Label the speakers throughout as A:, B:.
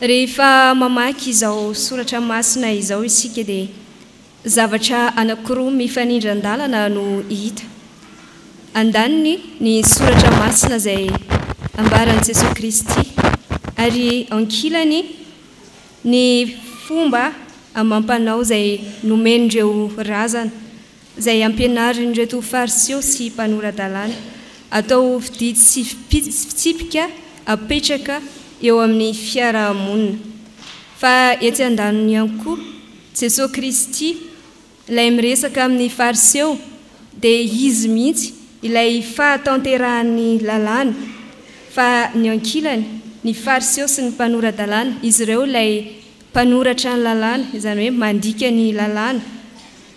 A: Rehefa mamaky izao soratra masina izao isika dia zavatra anankiroa mifanindran-dalana no hita. Andaniny ny soratra masina izay ambaran'i Jesoa Kristy ary ankilany ny fomba amam-panao izay nomen'ireo razana. izay ampianarin'ireto Fariseo sy mpanora-dalàna, atao ho fididy sy fitsipika apetraka eo amin'ny fiaraha-monina. Fa etsy an-daniny ihany koa, Jesoa Kristy, Ilay miresaka amin'ny Fariseo, dia Izy mihitsy ilay fahatanterahan'ny lalàna, fa ny ankilany, ny Fariseo sy ny mpanora-dalàna, izy ireo ilay Mpanoratra ny lalàna, izany hoe mandika ny lalàna,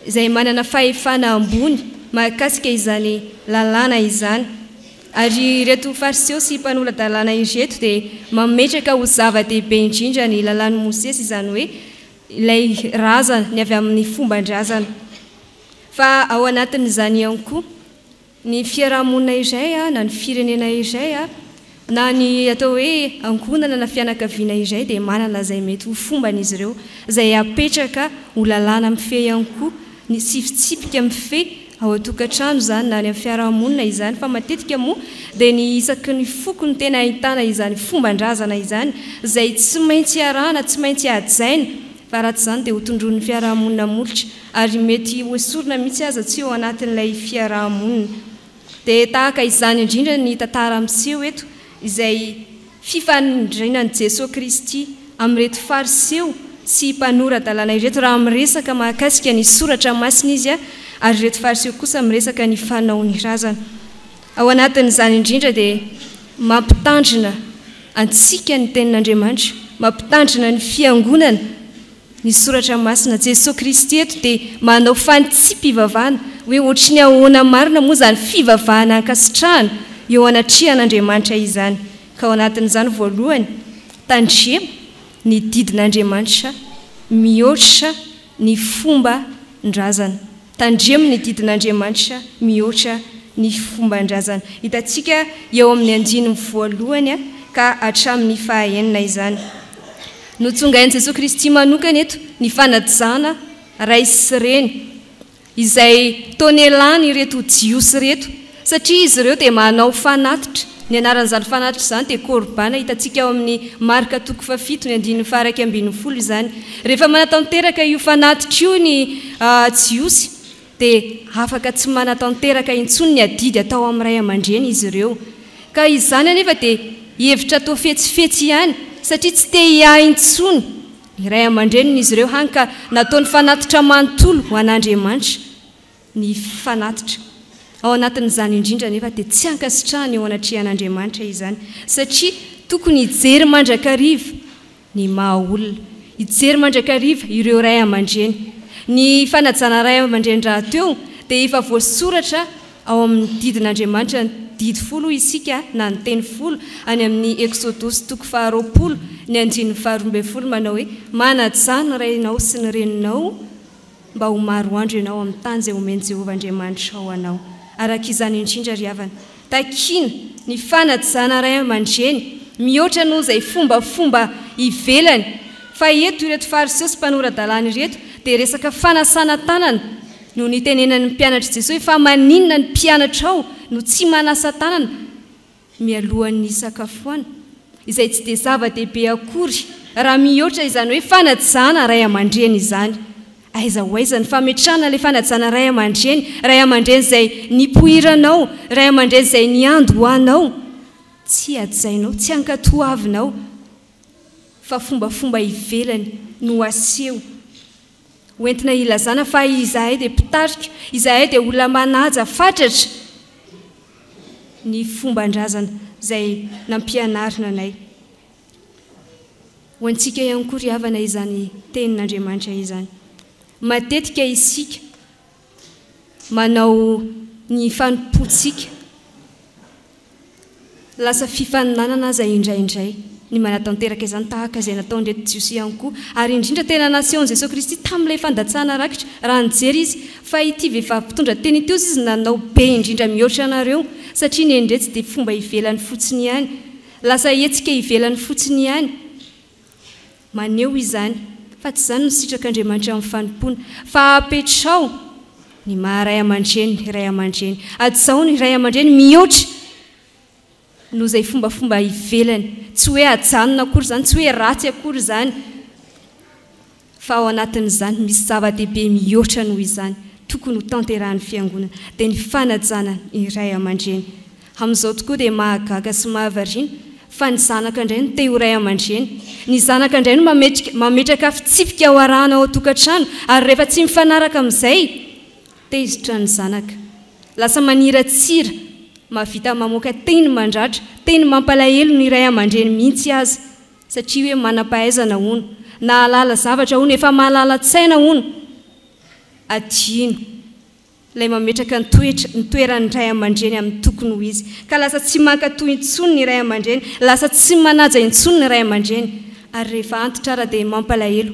A: izay manana fahefana ambony mahakasika izany lalàna izany. Ary ireto Fariseo sy Mpanola-dalàna ireto dia mametraka ho zava-dehibe indrindra ny lalàn'i Mosesy, izany hoe ilay razana ny avy amin'ny fomban-drazana. Fa ao anatin'izany ihany koa ny fiaraha-monina iray na ny firenena iray na ny atao hoe ankohonana na fianakaviana iray dia manana izay mety ho fombany izy ireo izay apetraka ho lalàna mifehy ihany koa ny tsy fitsipika mifehy ao an-tokantrano izany na any amin'ny fiaraha-monina izany fa matetika moa dia ny isaky ny foko no tena ahitana izany fomban-drazana izany izay tsy maintsy iarahana, tsy maintsy hajaina. fa raha tsy izany dia hotondroin'ny fiaraha-monina molotra ary mety hoesorina mihitsy aza tsy eo anatin'ilay fiaraha-monina. Dia tahaka izany indrindra ny tantara miseho eto izay fifanindrinan'i Jesoa Kristy amin'ireto Fariseo sy mpanora-dalàna ireto raha miresaka mahakasika ny Soratra Masina Izy ary ireto Fariseo kosa miresaka ny fanaony razana. Ao anatin'izany indrindra dia mampitandrina antsika ny Tenin'Andriamanitra, mampitandrina ny Fiangonana ny Soratra Masina. Jesoa Kristy eto dia manao fanitsipivavahana hoe hoatry ny ahoana marina moa izany fivavahana ankasitrahana eo anatrehan'Andriamanitra izany. Ka ao anatin'izany voalohany, tandremo ny didin'Andriamanitra mihoatra ny fomban-drazana. Tandremo ny didin'Andriamanitra mihoatra ny fomban-drazana. Hitantsika eo amin'ny andininy voalohany ka hatramin'ny fahaenina izany. Notsongain'i Jesoa Kristy manokana eto ny fanajana ray sy reny izay tonelany ireto Jiosy ireto Satria izy ireo dia manao fanatitra, ny anaran'izany fanatitra izany dia Kôrbàna, hitantsika ao amin'ny Marka toko fahafito ny andininy faha-iraika ambin'ny folo izany. Rehefa manatanteraka io fanatitra io ny Jiosy dia afaka tsy manatanteraka intsony ny adidy atao amin'ny ray aman-dreny izy ireo. Ka izany anefa dia hevitra toa fetsifetsy ihany, satria tsy te hiahy intsony ny ray aman-dreniny izy ireo, hany ka nataony fanatitra manontolo ho an'Andriamanitra. ny fanatitra. Ao anatin'izany indrindra anefa dia tsy ankasitrahana eo anatrehan'Andriamanitra izany, satria tokony hijery mandrakariva ny maha olona, hijery mandrakariva ireo ray aman-dreny. Ny fanajana ray aman-dreny rahateo dia efa voasoratra ao amin'ny didin'Andriamanitra, didy folo hoy isika na ny teny folo any amin'ny Eksodosy toko faharoapolo ny andininy faharoa ambin'ny folo manao hoe, Manajà ny rainao sy ny reninao, mba ho maro andro ianao amin'ny tany izay homen'i Jehovah Andriamanitrao ho anao. Araka izany indrindra, ry havana, takiana ny fanajana ray aman-dreny, mihoatra noho izay fombafomba ivelany. Fa eto, ireto Fariseo sy mpanora-dalàna ireto dia resaka fanasana tanana no nitenenan'ny mpianatr'i Jesosy. Fa maninona ny mpianatrao no tsy manasa tanana? mialohan'ny hisakafoana, izay tsy dia zava-dehibe akory raha mihoatra izany hoe fanajana ray aman-dreny izany. Aiza ho aiza ny fametrahana ilay fanajana ray aman-dreny, ray aman-dreny izay nipoiranao, ray aman-dreny izay niando ho anao? Tsy hajainao, tsy hankatoavinao, fa fombafomba ivelany no aseho. Ho entina hilazana fa izahay dia mpitarika, izahay dia olona manaja fatratra ny fomban-drazana izay nampianarina anay. Ho antsika ihany koa ry havana izany tenin'Andriamanitra izany. Matetika isika. Manao ny fanompoantsika lasa fifaninanana aza indraindray ny manatanteraka izany, tahaka izay nataon'ireto Jiosy ihany koa. Ary indrindra, tena nasehon'i Jesoa Kristy tamin'ilay fandatsahana rakitra, raha nijery Izy, fa ity vehivavy mpitondra teny ity hozy Izy nanao be indrindra mihoatra anareo, satria ny endretsy dia fomba ivelany fotsiny ihany. Lasa hetsika ivelany fotsiny ihany. Maneho izany fa tsy izany no sitrak'Andriamanitra amin'ny fanompoana, fa apetraho ny maha ray aman-dreny ny ray aman-dreny, hajaho ny ray aman-dreny mihoatra noho izay fombafomba ivelany, tsy hoe hajanona akory izany, tsy hoe ratsy akory izany, Fa ao anatin'izany misy zava-dehibe mihoatra noho izany tokony ho tanterahan'ny Fiangonana, dia ny fanajana ny ray aman-dreny. Amin'izao tokoa dia mahagaga sy mahavariana fa ny zanaka indray no te ho ray aman-dreny. Ny zanaka indray no mametraka fitsipika ho arahana ao an-tokantrano ary rehefa tsy mifanaraka amin'izay, tezitra ny zanaka. Lasa maniratsira, mahavita mamoaka teny mandratra, teny mampalahelo ny ray aman-dreny mihitsy aza. satria hoe manam-pahaizana hono, nahalala zavatra hono, efa mahalala-tsaina hono, adino ilay mametraka ny toetra, ny toeran'ny ray aman-dreny amin'ny tokony ho izy, ka lasa tsy mankatò intsony ny ray aman-dreny, lasa tsy manaja intsony ny ray aman-dreny, ary rehefa antitra ara dia mampalahelo.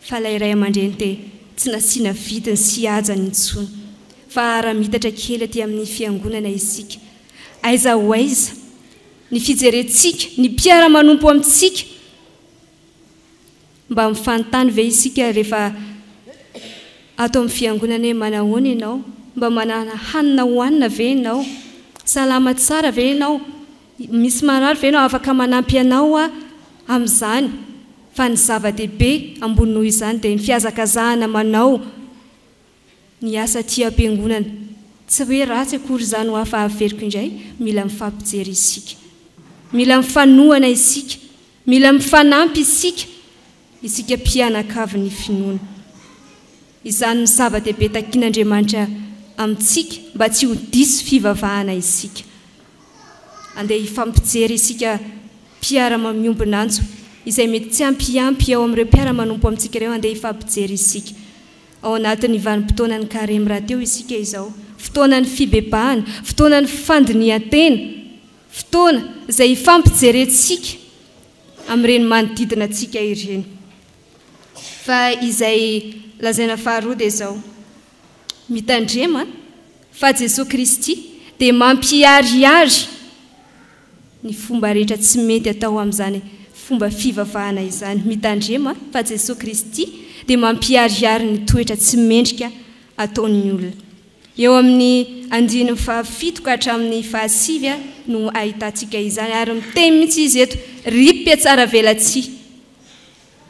A: fa ilay ray aman-dreny te tsy nasiana vidiny sy hajany intsony fa aramitatra kely aty amin'ny fiangonana isika aiza ho aiza ny fijerentsika ny mpiara-manompo amintsika mba mifanontany ve isika rehefa ato amin'ny fiangonana hoe manahoana ianao mba manana hanina hohanina ve ianao salama tsara ve ianao Misy marary ve no afaka manampy anao amin'izany? Fa ny zava-dehibe ambony noho izany dia ny fihazakazahana manao ny asa aty am-piangonana. Tsy hoe ratsy akory izany hoa fa averiko indray, mila mifampijery isika. Mila mifanohana isika. Mila mifanampy isika. Isika mpianakavy ny finoana. Izany no zava-dehibe takin'Andriamanitra amintsika mba tsy ho diso fivavahana isika. Andeha hifampijery isika mpiara-mamiombon'antso izay mety tsy hampiampy ao amin'ireo mpiara-manompo amintsika ireo. Andeha hifampijery isika. Ao anatin'ny vanim-potoanan'ny Karemy rahateo isika izao. Fotoanan'ny fibebahana, fotoanan'ny fandinihan-tena, fotoana izay hifampijerentsika amin'ireny manodidina antsika ireny. Fa izay lazaina faharoa dia izao, mitandrema fa Jesoa Kristy dia mampiharihary ny fomba rehetra tsy mety atao amin'izany fomba fivavahana izany, mitandrema fa Jesoa Kristy dia mampiharihary ny toetra tsy mendrika ataon'ny olona. Eo amin'ny andininy fahafito ka hatramin'ny fahasivy no ahitantsika izany, ary miteny mihitsy izy eto, Ry mpihatsaravelatsihy!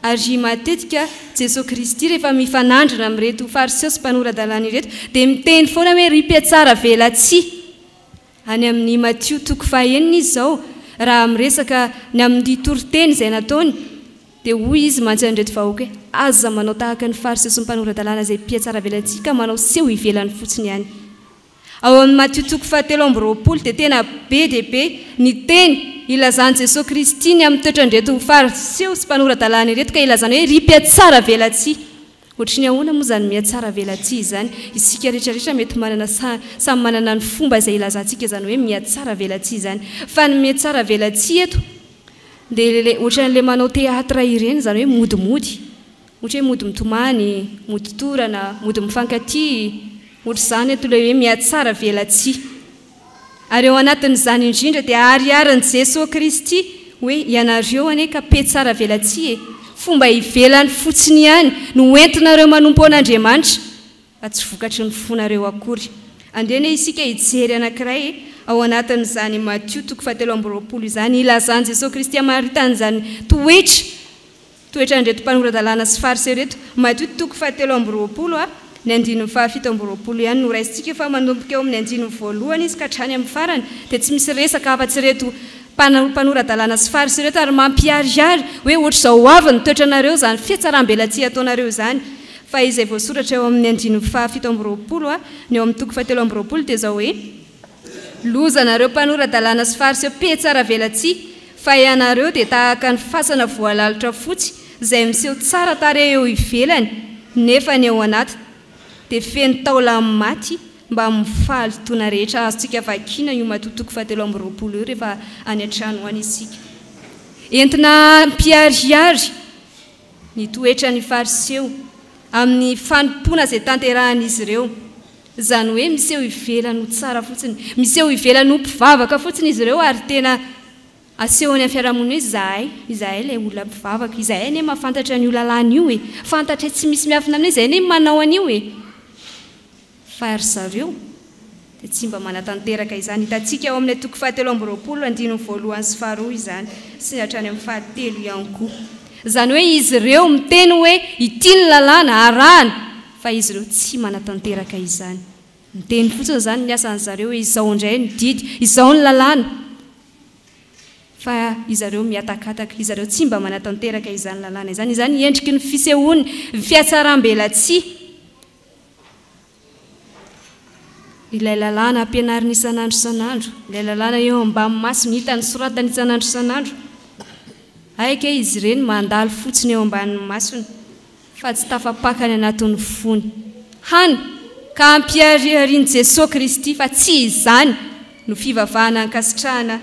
A: Ary matetika Jesoa Kristy rehefa mifanandrina amin'ireto Fariseo sy mpanora-dalàna ireto dia miteny foana hoe, Ry mpihatsaravelatsihy! Any amin'i Matio toko fahenina izy izao, raha miresaka ny amin'ity toriteny izay nataony, dia hoy izy mantsy an'ireto vahoaka hoe, Aza manao tahaka ny Fariseo sy ny mpanora-dalàna izay mpihatsaravelatsihy ka manao seho ivelany fotsiny ihany. Ao amin'i Matio toko fahatelo amby roapolo dia tena be dia be ny teny ilazan'i Jesoa Kristy ny amin'ny toetran'ireto Fariseo sy mpanora-dalàna ireto ka ilazany hoe ry mpihatsaravelatsihy. Ohatry ny ahoana moa izany mihatsaravelatsihy izany? Isika rehetra rehetra mety manana sa samy manana ny fomba izay ilazantsika izany hoe mihatsaravelatsihy izany. Fa ny mihatsaravelatsihy eto dia ilay ohatran'ilay manao théâtre ireny izany hoe mody mody. Ohatra hoe mody mitomany, mody torana, mody mifankatia. Ohatr'izany eto ilay hoe mihatsaravelatsihy. Ary ao anatin'izany indrindra dia ahariharin'i Jesoa Kristy hoe ianareo anie ka pe tsara velatsihy e! fomba ivelany fotsiny ihany no ho entinareo manompo an'Andriamanitra fa tsy vokatry ny fonareo akory. Andeha anie isika hijery anankiray ao anatin'izany Matio toko fahatelo amby roapolo izany ilazan'i Jesoa Kristy hamaritan'izany toetra Toetrandreto mpanora-dalàna sy fariseo reto. Madio toko fahatelo amby roapolo a, ny andininy fahafito amby roapolo ihany no raisintsika fa manomboka eo amin'ny andininy voalohany izy ka hatrany amin'ny farany dia tsy misy resaka afa-tsy ireto mpanora-dalàna sy fariseo ireto ary mampiharihary hoe ohatr'izao ho avy ny toetranareo izany fihatsarambelatsihy ataonareo izany fa izay voasoratra eo amin'ny andininy fahafito amby roapolo a, ny eo amin'ny toko fahatelo amby roapolo dia izao hoe. Loza anareo mpanora-dalàna sy fariseo mpihatsaravelatsihy! Fa ianareo dia tahaka ny fasana voalalotra fotsy izay miseho tsara tarehy eo ivelany nefa ny ao anatiny dia feno taolan'ny maty mbamin'ny fahalotoana rehetra azontsika vakiana io matoa toko fahatelo amby roapolo io rehefa any an-trano any isika entina hampiharihary Ny toetran' ny Fariseo amin' ny fanompoana izay tanterahan' izy ireo, izany hoe miseho ivelany ho tsara fotsiny, miseho ivelany ho mpivavaka fotsiny izy ireo, ary tena asehony amin' ny fiarahamonina hoe, Izahay, izahay ilay olona mpivavaka, izahay anie mahafantatra an' io lalàna io e, fantatray tsy misy miafina aminay, izahay anie manao an' io e. Fa ry zareo dia tsy mba manatanteraka izany. Hitantsika ao amin'ilay toko fahatelo amby roapolo, andininy voalohany sy faharoa izany, sy ny hatrany amin'ny fahatelo ihany koa. Izany hoe izy ireo miteny hoe ity ny lalàna, arahana, fa izy ireo tsy manatanteraka izany. Miteny fotsiny izany ny asan-dry zareo hoe izao indray ny didy, izao ny lalàna, fa ry zareo mihatakataka, ry zareo tsy mba manatanteraka izany lalàna izany. Izany endriky ny fisehoan'ny fihatsarambelatsihy. ilay lalàna ampianariny isan'andro isan'andro, ilay lalàna eo ambamin'ny masony hitany soratany isan'andro isan'andro. Hay ange izy ireny mandalo fotsiny eo ambanin'ny masony fa tsy tafapaka any anatin'ny fony. Hany ka ampihariharian'i Jesoa Kristy fa tsy izany. no fivavahana ankasitrahana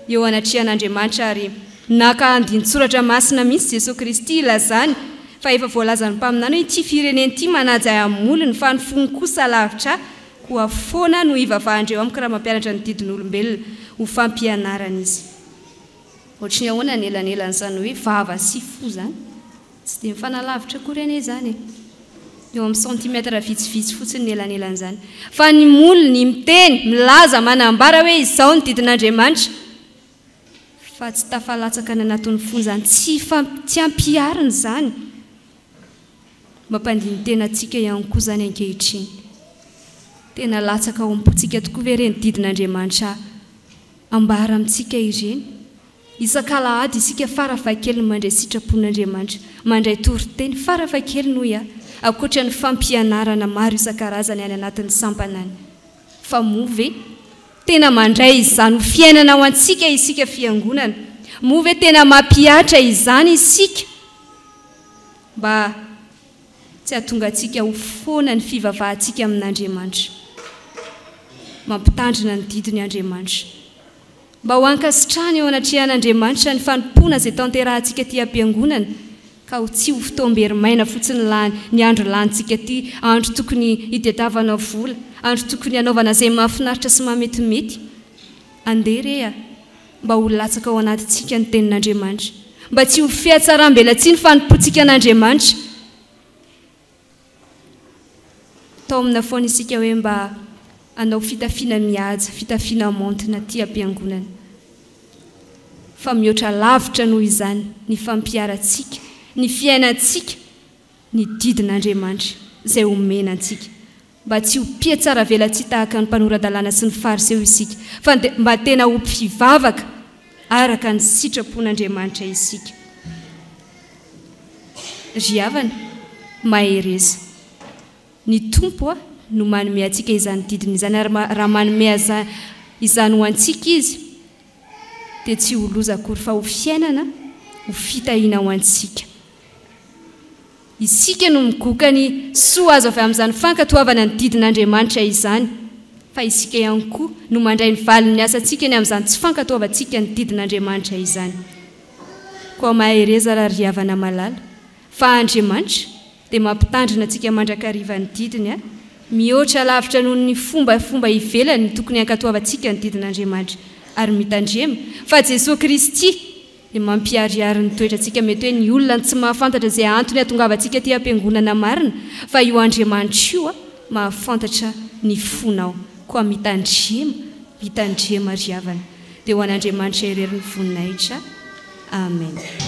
A: eo anatrehan'Andriamanitra ary naka andinin-tsoratra masina mihitsy Jesoa Kristy hilazany fa efa voalazan'ny mpaminany hoe ity firenena ity manaja ahy amin'ny molony fa ny fony kosa lavitra ahy koa foana no hivavahandreo amiko raha mampianatra ny didin'olombelona ho fampianaran'izy ohatry ny ahoana ny elanelan'izany hoe vava sy fo izany Tsy dia mifanalavitra akory anie izany e! Eo amin'ny centimètres vitsivitsy fotsiny ny elanelan'izany. Fa ny molony miteny, milaza, manambara hoe izao ny didin'Andriamanitra, fa tsy tafalatsaka any anatin'ny fonja any, tsy tsy ampihariny izany. Mampandini-tena antsika ihany koa izany ankehitriny. Tena latsaka ao am-pontsika tokoa ve ireny didin'Andriamanitra ambara amintsika ireny? Isak'alahady isika farafahakeliny mandray sitrapon'Andriamanitra, mandray toriteny farafahakeliny hoy aho, ankoatra ny fampianarana maro isan-karazany any anatin'ny sampanany. Fa moa ve tena mandray izany ho fiainana ho antsika isika fiangonana? Moa ve tena mampihatra izany isika mba tsy hahatonga antsika ho foana ny fivavahantsika amin'Andriamanitra? Mampitandrina ny didiny Andriamanitra. mba ho ankasitrahana eo anatrehan'Andriamanitra ny fanompoana izay tanterahantsika aty am-piangonana ka ho tsy ho fotoam-bery maina fotsiny lany ny andro lanintsika aty, andro tokony hitadiavana vola, andro tokony hanaovana izay mahafinaritra sy mahametimety. Andeha re a! mba ho latsaka ao anatintsika ny Tenin'Andriamanitra, mba tsy ho fihatsaram-belatsihy ny fanompoantsika an'Andriamanitra. Taomina foana isika hoe mba hanao fitafiana mihaja, fitafiana maontina aty am-piangonana. Fa mihoatra lavitra noho izany ny fampiharantsika, ny fiainantsika ny didin'Andriamanitra izay omena antsika. mba tsy ho mpihatsaravelatsihy tahaka ny mpanora-dalàna sy ny Fariseo isika, fa dia mba tena ho mpivavaka araka ny sitrapon'Andriamanitra isika. Ry havana, mahereza. Ny Tompo no manome antsika izany didiny izany, ary raha manome izany ho antsika Izy, dia tsy ho loza akory, fa ho fiainana, ho fitahiana ho antsika. Isika no migoka ny soa azo avy amin'izany fankatoavana ny didin'Andriamanitra izany, fa isika ihany koa no mandray ny valin'ny asantsika ny amin'izany tsy fankatoavantsika ny didin'Andriamanitra izany. Koa mahereza ra ry havana malala, fa Andriamanitra dia mampitandrina antsika mandrakariva ny didiny a! Mihoatra lavitra noho ny fombafomba ivelany ny tokony hankatoavantsika ny didin'Andriamanitra, ary mitandrema fa Jesoa Kristy Ny mampiharihary ny toetrantsika mety hoe ny olona no tsy mahafantatra izay antony hahatongavantsika aty am-piangonana marina fa io Andriamanitra io mahafantatra ny fonao koa mitandrema mitandrema ry havana dia ho an'Andriamanitra irery ny voninahitra Amen.